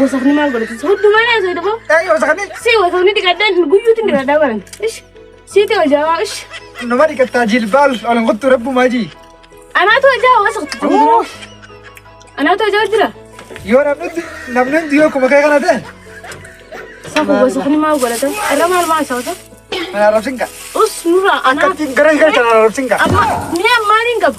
Wasakni maal godhate? Hundumaa na isa dhaboo. Ee wasakni. Si wasakni dhiqadhaan guyyuutti dhiqadhaa baran. Ish. Siiti hojaa ish. Nama dhiqattaa jilbaal ol hin kuttu rabbu maajii. Anaatu hojaa wasakti. Anaatu hojaa jira. Yoo namni hundi namni hundi yoo kuma kee kana ta'e. Safu wasakni maal godhate? Irra maal maal sawata? Mana rabsin ka. Us nurraa anaatu. Akkatti gara hin galchan rabsin ka. Amma mi'a maaliin qabu?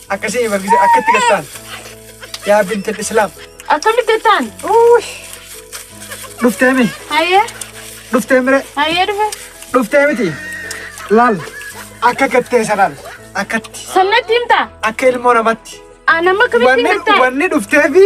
Akkasii bargise akkatti gattaan. Yaa bintal islaam. Akkamitti gattaan? Dhuftee mi? Hayyee. Dhuftee mire? Hayyee dhufe. Dhuftee miti? Laal. Akka gattee sanaan. Akkatti. Sannatti himta? Akka ilmoo namatti. Anamma akkamitti gattaan? Wanni dhuftee fi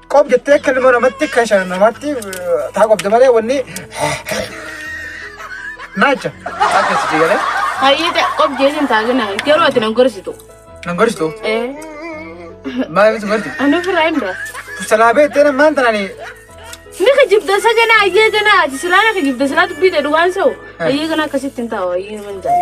Qob jettee akka ilma namatti akka shan namatti taa qobde malee wanni naacha akkas jedhee Hayyita qob jeesin taagina garuu ati nan gorsitu. nan gorsitu Eh, maal ibsu gorti ani ofirraa hin dura. salaabee itti nama maanta nani Ni ka jibda sa gana ayyee gana ati silaa na ka jibda silaa dubbii ta'e dhugaan sa'u. Ayyee gana akkasitti hin taa'u ayyee nama hin taa'u.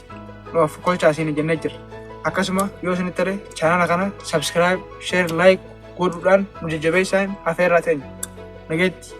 nu afkolchaa isin jennee jirra. Akkasuma yoo isin tole chaanala kana subscribe, share, like godhuudhaan nu jajjabeessaa afeerraa teenya. Nageetti.